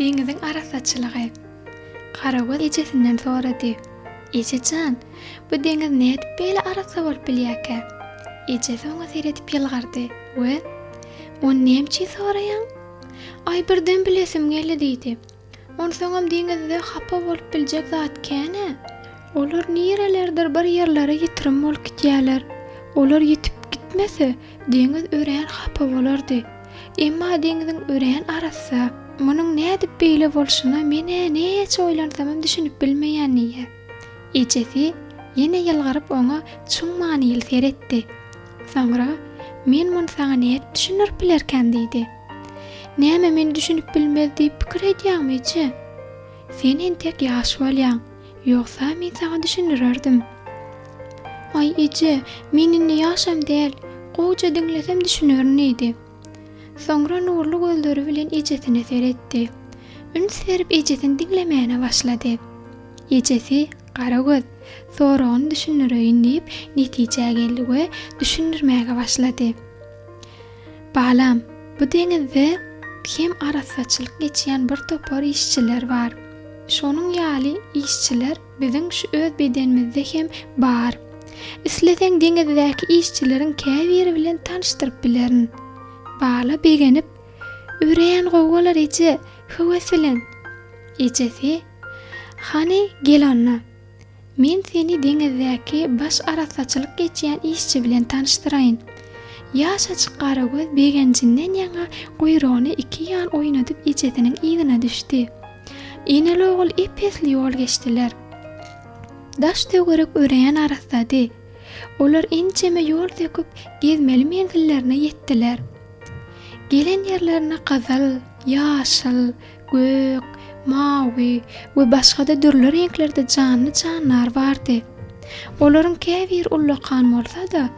Deňiziň arassaçylygy. Garawul ejesinden sorady. Eje jan, bu deňiz nädip beýle arassa bolup bilýärkä? Ejesi oňa seredip ýylgyrdy we Ony nämüçin soraýaň? Aý, birden bilesim geldi diýdi. Onsoňam deňizde hapa bolup biljek zat kän-ä. Olar nirelerdir bir ýerlere ýitirim bolup gidýärler. Olar ýitip gitmese, deňiz örän hapa bolardy. Emma deňziň örän arassa. Munuň nädip beýle bolşuna men-ä näçe oýlansamam düşünip bilmeýän diýýär. Ejesi ýene ýylgyryp oňa çuň manyly seretdi. Soňra, Men muny saňa nädip düşündirip bilerkäm diýdi. Näme men düşünip bilmez diýip pikir edýäňmije? Sen entek ýaş bolýaň, ýogsa men saňa düşündirerdim. Aý eje, men indi ýaşam däl, gowja diňlesem düşünerin diýdi. Soňra nurly gözleri bilen ejesine seretdi. Üns berip ejesini diňlemäne başlady. Ejesi, Garagöz, soragyny düşündireýin diýip netijä geldi we düşündirmäge başlady. Balam, bu deňizde hem arassaçylyk geçýän bir topar işçiler bar. Şonuň ýaly işçiler biziň şu öz bedenimizde hem bar. Isleseň deňizdäki işçileriň käbiri bilen tanyşdyryp bilerin. Bala begenip, Örän gowy bolar eje, höwes bilen! Ejesi, Hany, gel onda. Men seni deňizdäki baş arassaçylyk geçýän işçi bilen tanyşdyraýyn. Ýaşajyk Garagöz begenjinden ýaňa guýrugyny iki ýan oýnadyp ejesiniň yzyna düşdi. Eneli-ogul ep-esli ýol geçdiler. Daş-töwerek örän arassady. Olar ençeme ýol söküp, gezmeli menzillerine ýetdiler. Gelen ýerlerine gyzyl, ýaşyl, gök, mawy we başga-da dürli reňklerde janly-jandar bardy. Olaryň käbiri ullakan bolsa-da,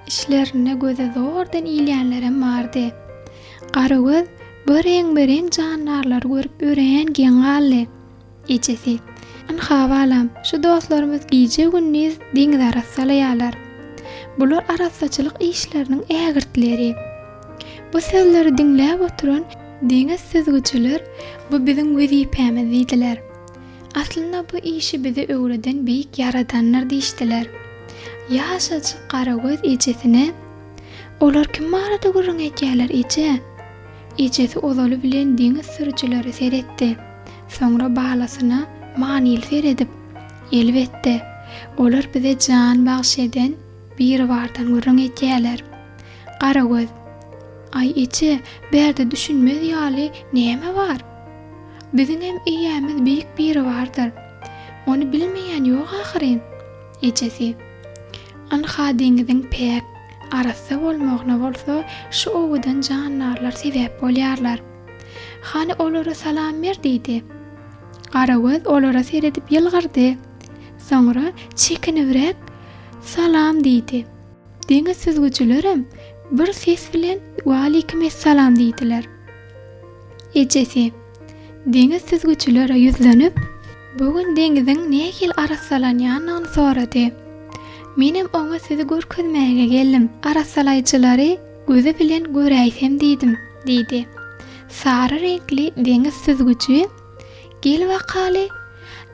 içlerinde göze zordan ilýänlerem bardy. Garagöz bu reňbe-reň jandarlary görüp örän geň galdy. Ejesi, Ynha, balam, şu dostlarymyz gije-gündiz deňizi arassalaýarlar. Bular arassaçylyk işleriniň ägirtleri. Bu sözleri diňläp oturan Diňe süzgüjiler bu biziň wezipämiz diýdiler. Aslynda bu işi bize öwreden beýik Ýaradandyr diýişdiler. Ýaşajyk Garagöz ejesine, Olar kim barada gürrüň edýärler, eje? Ejesi ozaly bilen deňiz sürüjilere seretdi. Soňra balasyna manyly seredip, Elbetde, olar bize jan bagyş eden Biribardan gürrüň edýärler. Garagöz. Aý eje, bärde düşünmez ýaly näme bar? Biziňem eýämiz beýik Biribardyr. Ony bilmeýän ýok ahyryn. Ejesi. Ynha deňiziň päk, arassa bolmagyna bolsa şu owadan jandarlar sebäp bolýarlar. Hany olara salam ber diýdi. Garagöz olara seredip ýylgyrdy. Soňra çekinibräk Salam diýdi. Deňiz süzgüjilerem bir ses bilen Waleýkim essalam diýdiler. Ejesi, deňiz süzgüjilere ýüzlenip, bu gün deňiziň nähili arassalanýanyny sorady. Menem oňa sizi görkezmäge geldim, arassalaýjylary gözi bilen göräýsem diýdim, diýdi. Sary reňkli deňiz süzgüji. Gel bakaly!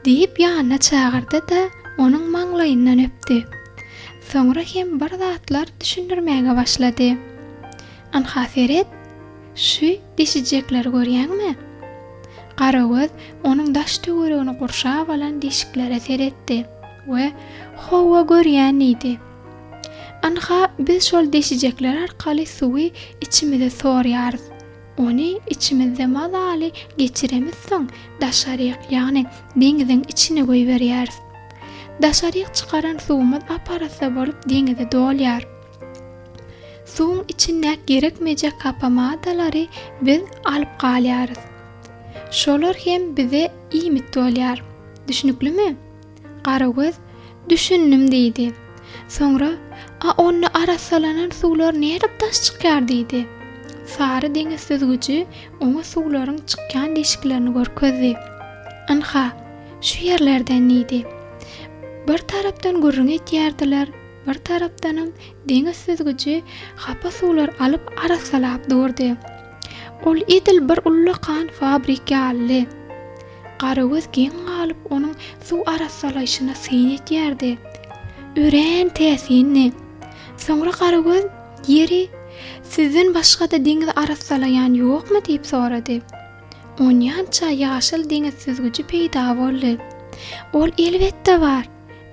diýip ýanyna çagyrdy-da, onuň maňlaýyndan öpdi. Soňra hem bir zatlar düşündirmäge başlady. Ynha seret, şu deşijekleri görýäňmi? Garagöz onuň daş-töweregini gurşap alan deşiklere seretdi we Hawa, görýän diýdi. Ynha, biz şol deşijekler arkaly suwy içimize sorýarys. Ony içimizde mazaly geçiremizsoň, daşaryk, ýagny deňiziň içine goýberýäris. Daşaryk çykaran suwumyz ap-arassa bolup deňize dolýar. Suwuň içindäki gerekmejek hapa maddalary biz alyp galýarys. Şolar hem bize iýmit bolýar. Düşnüklimi? Garagöz, Düşündim, diýdi. Soňra, A onda arassalanan suwlar nädip daş çykýar? diýdi. Sary deňiz süzgüji oňa suwlaryň çykýan deşiklerini görkezdi. Ynha, şu ýerlerden, diýdi. Bir tarapdan gürrüň etýärdiler, bir tarapdanam deňiz süzgüji hapa suwlar alyp arassalap durdy. Ol edil bir ullakan fabrik ýalydy. Garagöz geň galyp onuň suw arassalaýşyna syn edýärdi. Örän täsindi. Soňra Garagöz, Ýeri, sizden başga-da deňiz arassalaýan ýokmy? diýip sorady. Onýança ýaşyl deňiz süzgüji peýda boldy. Ol elbetde bar.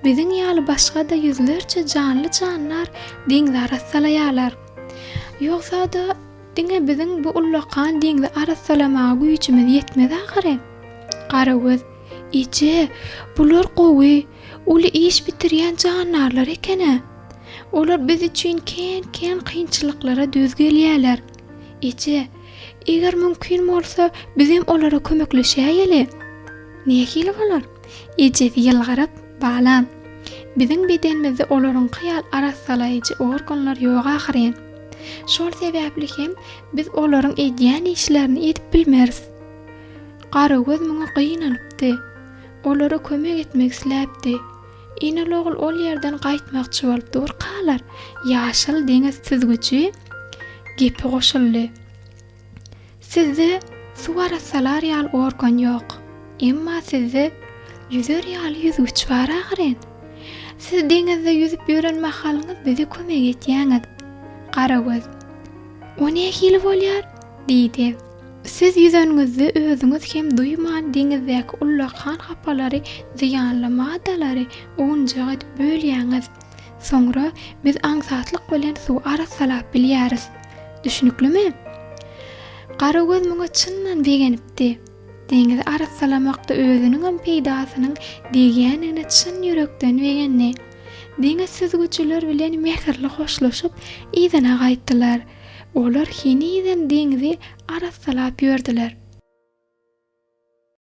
Biziň ýaly başga-da ýüzlerçe janly-jandar deňzi arassalaýarlar. Ýogsa-da, Diňe biziň bu ullakan deňzi arassalamaga güýjümiz ýetmez ahyry. Garagöz, Eje, bular gowy, uly iş bitirýän jandarlar eken-ä. Olar biz üçin kän-kän kynçylyklara döz gelýärler. Eje, eger mümkin bolsa, bizem olara kömekleşäýeli. Nähili bolar? Ejesi ýylgyryp, Balam, biziň bedenimizde olaryňky ýaly arassalaýjy organlar ýok ahyryn. Şol sebäpli hem biz olaryň edýän işlerini edip bilmeris. Garagöz muňa gynalypdy. Olara kömek etmek isläpdi. Inalogul ol ýerden gaýtmakçy bolup durkalar, ýaşyl deňiz süzgüji gepe goşuldy. Sizde suw arassalar ýaly organ ýok. Emma sizde ýüzer ýaly ýüzgüç bar ahyryn. Siz deňizde ýüzüp ýören mahalyňyz bize kömek etýäňiz. Garagöz, O nähili bolýar? diýdi. Siz ýüzeniňizde özüňiz hem duýman deňizdäki ullakan hapalary, zyýanly maddalary owunjak edip bölýäňiz. Soňra biz aňsatlyk bilen suw arassalap bilýäris. Düşnüklimi? Garagöz muňa çyndan begenipdi. Deňizi arassalamakda özüniňem peýdasynyň degýändigine çyn ýürekden begendi. Deňiz süzgüjiler bilen mähirli hoşlaşyp, yzyna gaýtdylar. Olar henizem deňzi arassalap ýördüler.